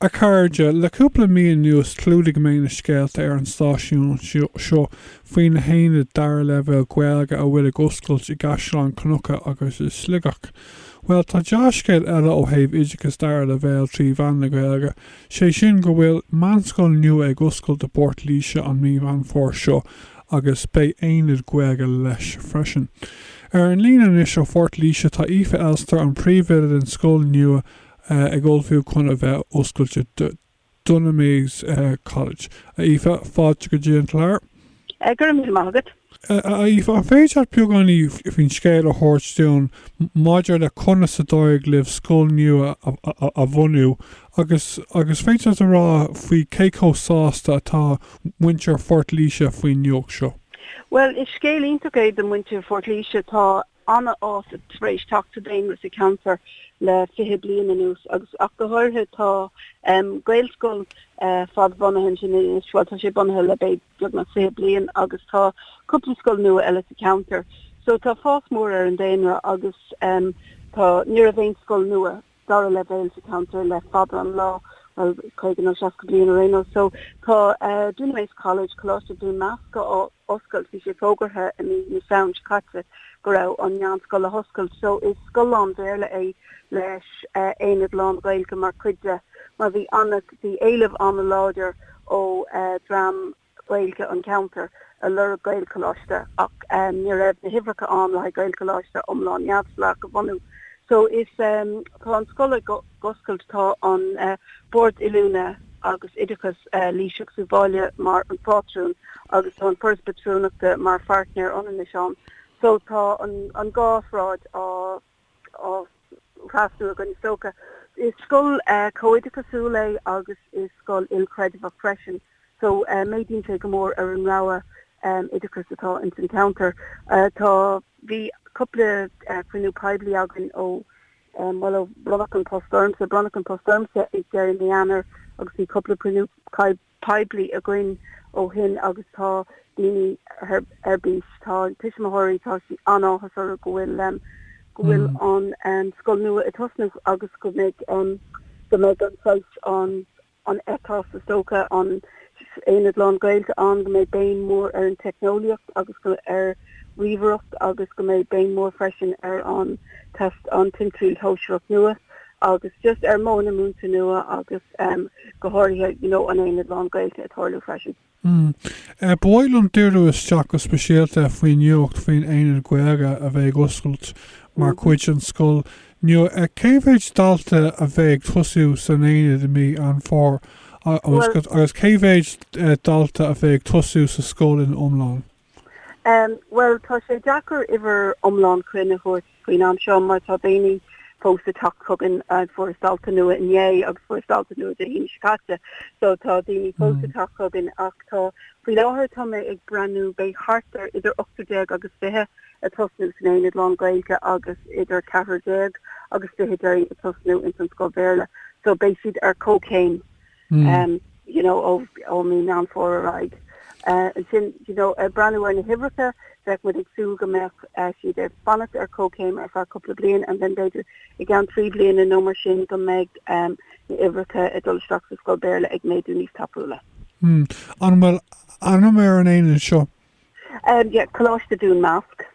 A chairde, le cúpla mí anuas chlúdaigh mé na scéalta ar an stáisiún seo faoi na haonaid dara leibhéal Gaeilge a bhfuil ag oscailt i gCaisleán Cnucha agus i Sligeach. Bhuel, tá dea-scéal eile ó thaobh oideachas dara leibhéal trí mheán na Gaeilge, sé sin go bhfuil meánscoil nua ag oscailt i bPort Laoise an mí Mheán Fómhair seo agus beidh aonad Gaeilge leis freisin. Ar an líne anois ó Phort Laoise tá Aoife Elster, an príomhoide den scoil nua, ag ullmhú chun a bheith oscailte Dunamase College. A Aoife, fáilte go dtí an chlár. Go raibh míle maith agat. A Aoife, an féidir leat beagáinín faoin scéal a thabhairt dúinn maidir le conas a d'éirigh libh scoil nua a bhunú agus agus féidir leat a rá faoi cé chomh sásta atá muintir Phort Laoise faoin nuacht seo? Bhuel, is scéal iontach é do mhuintir Phort Laoise. Tá an-fhás tar éis teacht sa daonra sa cheantar le fiche bliain anuas agus ach go háirithe tá Gaelscoil fadbhunaithe ansin anois, bhuel tá sé bunaithe le beagnach fiche bliain agus tá cúpla scoil nua eile sa cheantar. So tá fás mór ar an daonra agus tá ní raibh aon scoil nua dara leibhéal sa cheantar le fada an lá, bhuel, 50 nó 60 bliain ar aon nós. So, tá Dunamase College, Coláiste Dhún Másc, á oscailt. Bhí sé fógartha i mí na Samhna seo caite go raibh an meánscoil le hoscailt. So, is scoil lán-Bhéarla é leis aonad lán-Ghaeilge mar chuid de mar bhí an- bhí éileamh an-láidir ó dhream na. Gaeilge an cheantair a lorg Gaelcholáiste ach ní raibh na huimhreacha ann le haghaidh Gaelcholáiste iomlán neamhspleách a bhunú. So is tá an scoil ag oscailt, tá an Bord Oiliúna agus Oideachais Laoise agus Uíbh Fhailí mar an phátrún agus tá an Foras Pátrúnachta mar pháirtnéir ionannais ann. So tá an dhá thráigh á. á thrasnú againn is dócha. Is scoil comhoideachasúil é agus is scoil ilchreidmheach freisin so méadaíonn sé go mór ar an rogha oideachais atá ins an cheantar. Tá bhí cúpla cruinniú poiblí againn ó bhuel ó bronnadh an post ormsa, bronnadh an post ormsa ag deireadh mí Eanáir agus bhí cúpla cruinniú poiblí againn ó shin agus tá daoine ar bís, tá tuismitheoirí, tá sí an-áthas orthu go bhfuil, go bhfuil an scoil nua ag tosnú agus go mbeidh, go mbeidh an saghas, an, an ethos is dócha, an aonad lán Gaeilge ann, go mbeidh béim mhór ar an teicneolaíocht agus go, ar ríomhaireacht agus go mbeidh béim mhór freisin ar an test, an Timthriall Shóisearach nua. agus just ar mo, na múinteoirí nua agus go háirithe you know an aonad lán-Ghaeilge ag tarlú freisin. Ba mhaith liom díriú isteach go speisialta faoin nuacht faoin Aonad Gaeilge a bheidh ag oscailt mar chuid den scoil nua. Cé mhéid dalta a bheidh ag tosú san Aonad i mí Mheán Fómhair agus cé mhéid dalta a bheidh ag tosú sa scoil ina iomlán? Bhuel, tá sé deacair uimhir iomlán cruinn a thabhairt faoin am seo mar tá daoine fós ag teacht chugainn. Fuarthas dalta nua inné agus fuarthas dalta nua Dé hAoine seo caite, so tá daoine fós ag teacht chugainn ach tá, faoi láthair, tá mé ag breathnú, beidh thart ar idir ocht déag agus fiche ag tosnú san aonad lán-Ghaeilge agus idir ceathair déag agus fiche duine ag tosnú ins an scoil Bhéarla, so beidh siad ar chomhchéim. you know, ó mhí Meán Fómhair ar aghaidh. Ansin, you know, ag breathnú ar na huimhreacha, bheadh muid ag súil go mbeadh siad ag fanacht ar chomhchéim ar feadh cúpla bliain and then b'fhéidir i gceann trí bliana nó mar sin go mbeidh na huimhreacha ag dul isteach sa scoil Béarla ag méadú níos tapúla. An bhfuil ainm ar an Aonad seo? Umm yeah, Coláiste Dún Measc.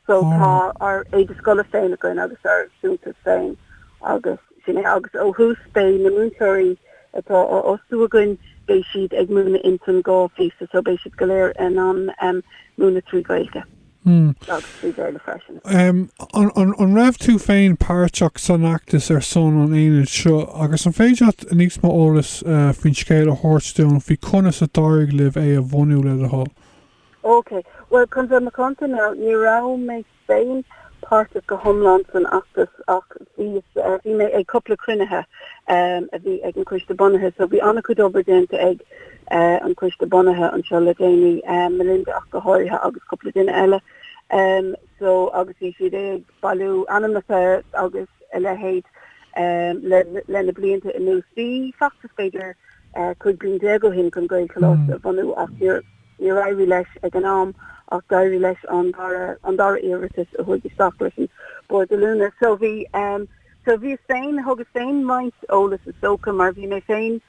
So tá ár éide scoile féin againn agus ár suaitheantas féin agus sin é. Agus ó thús beidh na múinteoirí atá á fhostú againn, beidh siad ag múineadh ins an dhá phíosa so beidh siad go léir in ann múineadh trí Ghaeilge. Umm. trí Bhéarla freisin. M, An raibh tú féin páirteach san fheachtas ar son an aonaid seo agus an féidir leat níos mó eolais faoin scéal a thabhairt dúinn faoi conas a d'éirigh libh é a bhunú, le do thoil? OK, bhuel, chun bheith macánta, ní raibh mé féin páirteach go hiomlán san fheachtas ach bhí mé ag cúpla cruinnithe a bhí ag an Choiste Bunaithe so bhí an-chuid obair déanta ag an Coiste bunaithe anseo le déanaí, Melinda ach go háirithe agus cúpla duine eile, so agus bhí siad ag bailiú ainmneacha agus a leithéid lena blianta anuas. Bhí feachtas b'fhéidir 15 bliain ó shin chun Gaelcholáiste a bhunú ach níor éirigh leis ag an am ach d'éirigh leis an dara iarratas a chuaigh isteach leis an Bord Oiliúna. So bhí. So bhíos féin, thugas féin roinnt eolas is dócha mar bhí mé féin,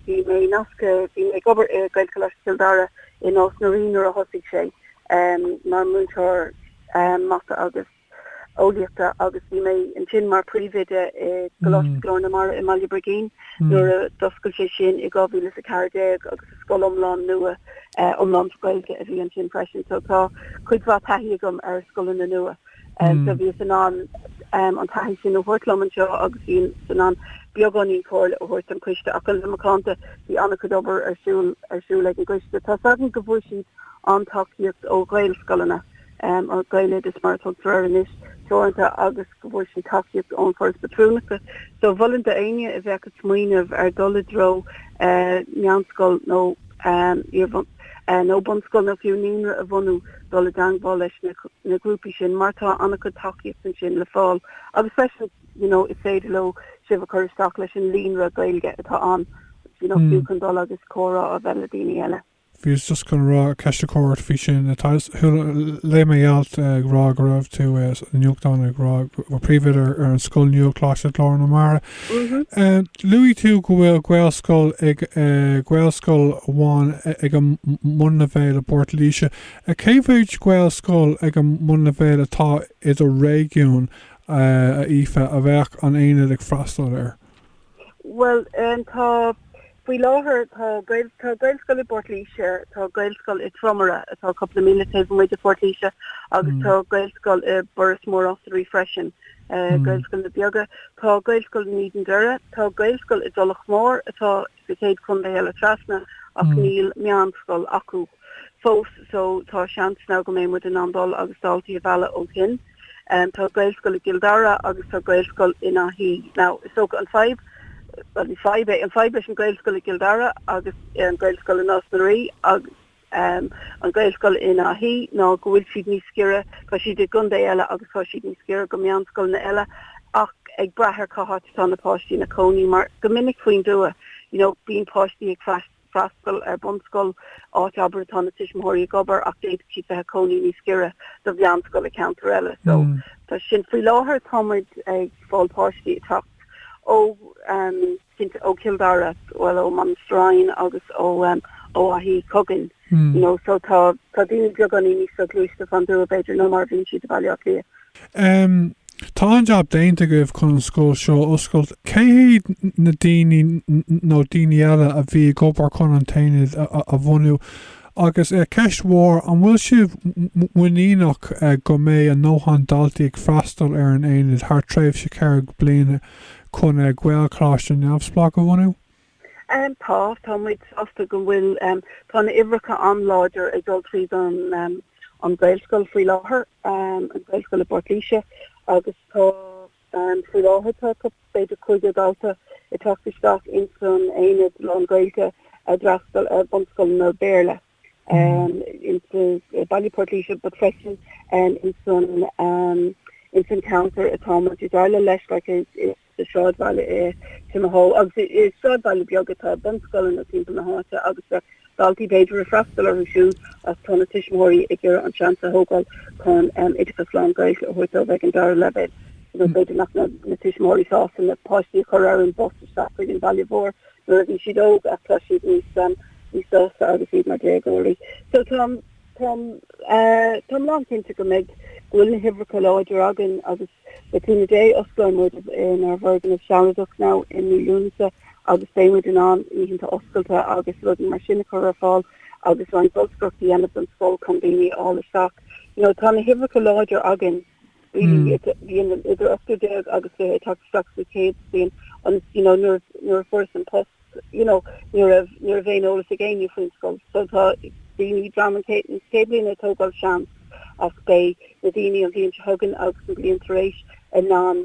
bhí mé nasctha, bhí mé ag obair i nGaelcholáiste Chill Dara i Nás na Rí nuair a thosaigh sé mar mhúinteoir mata agus eolaíochta agus bhí mé ansin mar phríomhoide i gColáiste Ghlór na Mara i mBaile Brigín nuair a d'oscail sé sin i 2014 agus is scoil iomlán nua iomlán Ghaeilge a bhí ansin freisin so tá cuid mhaith taithí agam ar scoileanna nua. So bhíos in ann an taithí sin a thabhairt liom anseo agus bhíos in ann beagáinín comhairle a thabhairt don Coiste ach le bheith macánta bhí an-chuid obair ar siúl ag an gCoiste. Tá's againn go bhfuair siad an-tacaíocht ó Ghaelscoileanna, or Gaeloideachas mar a tugtar air anois, teoranta agus go bhfuair siad tacaíocht ón Foras Patrúnachta. So mholfainn d'éinne a bheadh ag smaoineamh ar dhul i dtreo meánscoil nó iar nó bunscoil nó fiú naíonra a bhunú, dul i dteagmháil leis na grúpaí sin mar tá an-chuid tacaíocht ansin le fáil agus freisin you know is féidir leo sibh a chur isteach leis an líonra Gaeilge atá ann you know fiú chun dul agus comhrá a bheith le daoine eile. bhíos just chun rá ceist a chur ort faoi sin tá chuala léigh mé alt ag rá go raibh tú sa nuachtán ag rá go príomhoide ar an scoil nua Coláiste Ghlór na Mara Luaigh tú go bhfuil Gaelscoil ag Gaelscoil amháin ag an mbunleibhéal i bPort Laoise. Cé mhéad Gaelscoil ag an mbunleibhéal atá i do réigiún, a Aoife, a bheadh an Aonad ag freastal air? Bhuel, tá Faoi láthair tá tá Gaelscoil i bPort Laoise, tá Gaelscoil i Tromaire atá cúpla míle taobh amuigh de Phort Laoise agus tá Gaelscoil i Buiríos Mór Osraí freisin, Gaelscoileanna beaga. Tá Gaelscoil in Éadan Doire, tá Gaelscoil i dTulach Mhór atá sa chéad chontae eile trasna ach níl meánscoil acu. fós so tá seans now go mbeidh muid in ann dul agus daltaí a mhealladh ó shin. Tá Gaelscoil i gCill Dara agus tá Gaelscoil in Áth Í. Now, is dócha an fadhb, bhuel ní fadhb é, an fadhb leis an Gaelscoil i gCill Dara agus an Gaelscoil i Nás na Ríogh agus um an Gaelscoil in Áth Í ná go bhfuil siad níos giorra, tá siad i gcontae eile agus tá siad níos giorra go meánscoileanna eile ach ag brath ar cá háit atá na páistí ina cónaí mar go minic faoin dtuath you know bíonn páistí ag freastal freastal ar bunscoil, áit abair atá na tuismitheoirí ag obair ach d'fhéadfadh siad bheith ag cónaí níos giorra do mheánscoil i gceantar eile. So tá sin, faoi láthair tá muid ag fáil páistí ag teacht ó ehm cinnte ó Chill Dara, bhuel ó Monasterevin agus ó ehm ó Áth Í chugainn you know so tá tá daoine beagáinín níos soghluaiste fán dtuath b'fhéidir ná mar a bhíonn siad i Bhaile Átha Cliath. Um. Tá an-jab déanta agaibh chun an scoil seo a oscailt. Cé hiad na daoine nó daoine eile a bhí ag obair chun an t-aonad a bhunú? Agus, ceist mhór, an bhfuil sibh muiníneach go mbeidh a ndóthain daltaí ag freastal ar an aonad thar tréimhse ceithre bliana chun Gaelcholáiste neamhspleách a bhunú? Tá, tá muid sásta go bhfuil, tá na uimhreacha an-láidir atá ag dul tríd an an Gaelscoil faoi láthair, an Gaelscoil i bPort Laoise agus tá faoi láthair tá b'fhéidir 50 dalta ag teacht isteach ins an aonad lán-Ghaeilge a d'fhreastail ar bunscoileanna Béarla ins i mbaile Port Laoise but freisin ins an ins an ceantar atá muid ag déileáil leis like is sa sráidbhaile i Timahoe, agus is sráidbhailte beaga atá bunscoileanna timpeall na háite agus daltaí b'fhéidir ag freastal orthu siúd ach tá na tuismitheoirí ag iarraidh an seans a thógáil chun oideachas lán Gaeilge a thabhairt dóibh ag an dara leibhéal nó b'fhéidir nach mbeadh na tuismitheoirí sásta na páistí a chur ar an bus isteach chuig an bhaile mhór nuair a bhí siad óg ach tá siad níos sásta agus iad mar déagóirí so tá So táim lánchinnte go mbeidh, go bhfuil na huimhreacha láidir againn agus le cúnamh Dé osclóidh muid inár bhfoirgneamh sealadach now i mí Lúnasa agus beidh muid in ann oícheanta oscailte agus rudaí mar sin a chur ar fáil agus roinnt bolscaireachta a dhéanamh don scoil chun daoine a fháil isteach. You know, tá na huimhreacha láidir againn. really idir 18 agus 20 ag teacht isteach sa chéad bhliain agus you know nuair nuair a fuaireas an post you know nuair nach raibh aon eolas ag éinne faoin scoil so tá daoine dream an céad an chéad bhliain ag tógáil seans ach beidh na daoine an bhliain seo chugainn agus an bhliain tar éis in ann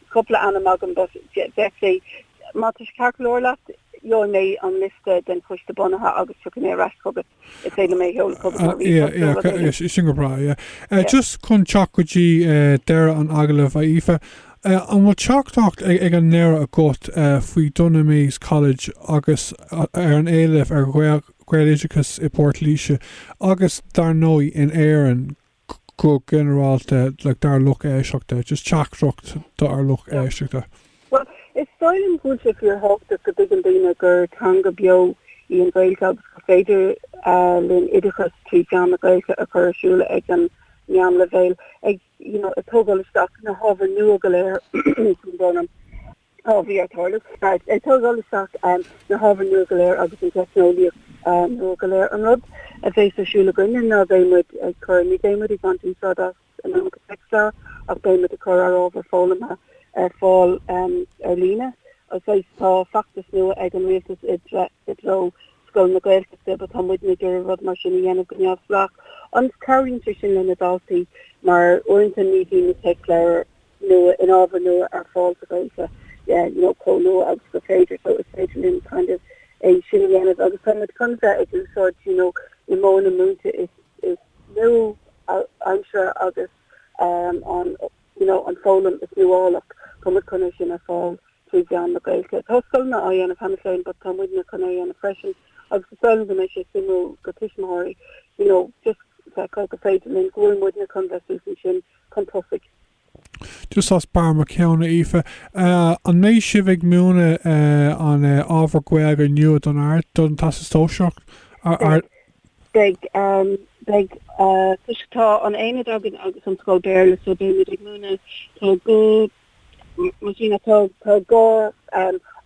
cupla ainm agam but i ndáiríre má tá sé ceart go leor leat gheobhaidh mé an liosta den Choiste Bunaithe agus tiocfaidh mé ar ais chugat is féidir liom é a sheoladh chugat mar ríomhphost nó rud éigin. Sin go breá, yeah. Just chun teacht go dtí deireadh an agallaimh, a Aoife, an bhfuil teachtaireacht ag an deireadh agat faoi Dunamase College agus ar an éileamh ar Ghaeloideachas i bPort Laoise agus dar ndóigh in Éirinn? Go ginearálta, dár lucht éisteachta, just teachtaireacht dár lucht éisteachta. Bhuel, is dóigh liom go bhfuil sé fíor thábhachtach go dtuigeann daoine gur teanga beo í an Ghaeilge agus gur féidir linn oideachas trí mheán na Gaeilge a chur ar siúl ag an meánleibhéal, ag, you know, ag tógáil isteach na hábhair nua go léir, sin dóigh liom. Tá bhí ar tarlú. Ag tógáil isteach na hábhair nua go léir agus an teicneolaíocht nua go léir an rud a bheas ar siúl againne ná bheidh muid ag cur ní bheidh muid ag baint úsáid as an iomarca téacsleabhar ach beidh muid ag cur ár ábhar foghlamtha ar fáil ar líne. Agus tá feachtas nua ag an Rialtas i dtreo scoileanna Gaeltachta but tá muidne ag iarraidh rud mar sin a dhéanamh go neamhspleách agus cabhraíonn sé sin le na daltaí mar uaireanta ní bhíonn na téacsleabhair nua na hábhair nua ar fáil sa Ghaeilge, you know, comh luath agus gur féidir, so is féidir linn kind of é sin a dhéanamh agus tá muid chun bheith ag úsáid, you know, na modhanna múinte is is nua-aimseartha agus um an, you know, an foghlaim is nuálach, tá muid chun é sin a fháil trí mheán na Gaeilge. Tá scoileanna á dhéanamh cheana féin but tá muidne chun é a dhéanamh freisin agus is dóigh liom go mbeidh sé suimiúil do tuismitheoirí, you know, just feiceáil gur féidir linn, go bhfuil muidne chun bheith suas ansin chun tosaigh. Just as barr mo cheann, a Aoife, an mbeidh sibh ag múineadh an ábhar Gaeilge nua don Ard, don Teastas Sóisearach Ard? Beidh, beidh, toisc tá an aonad againn agus an scoil Béarla so beidh muid ag múineadh, tá go, Mar sin, tá dhá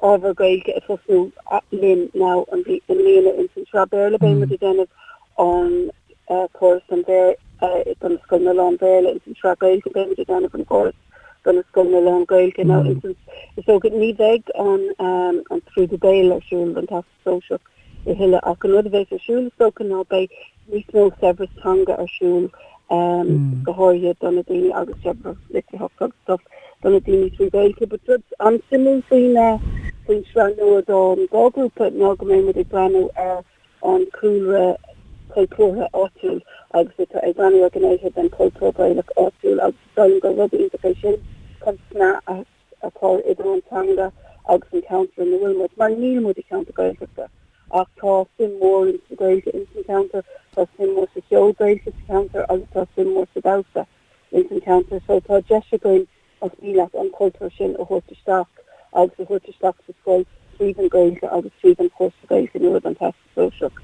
ábhar Gaeilge ag tosnú linn nua i mbliana ins an Sraith Béarla beidh muid ag déanamh an córas do na scoileanna lán-Bhéarla, ins an Sraith Gaeilge beidh muid ag déanamh an córas do na scoileanna lán-Gaeilge now ins an. Is dócha ní bheidh an scrúdú béil ar siúl don Teastas. sóisearach a thuilleadh ach an rud a bheas ar siúl is dócha ná beidh níos mó saibhreas teanga ar siúl go háirithe do na daoine agus saibhreas litríocht agus stuff do na daoine trí Gaeilge, but rud an-suimiúil faoin faoin sraith nua don dhá grúpa ná go mbeidh muid ag breathnú ar an cúlra cultúrtha áitiúil agus ag breathnú ar ghnéithe den chultúr Gaelach áitiúil agus is dóigh liom gur rud iontach é sin chun snaidhm a a chur idir an teanga agus an ceantar ina bhfuil muid, mar níl muid i gceantar Gaeltachta ach tá suim mhór in sa Ghaeilge in san ceantar, tá suim mhór sa cheol Gaelach sa ceantar agus tá suim mhór sa damhsa in san ceantar so tá deis againn más mian leat an cultúr sin a thabhairt isteach agus a thabhairt isteach sa scoil tríd an Ghaeilge agus tríd an chúrsa Gaeilge nua don Teastas Sóisearach.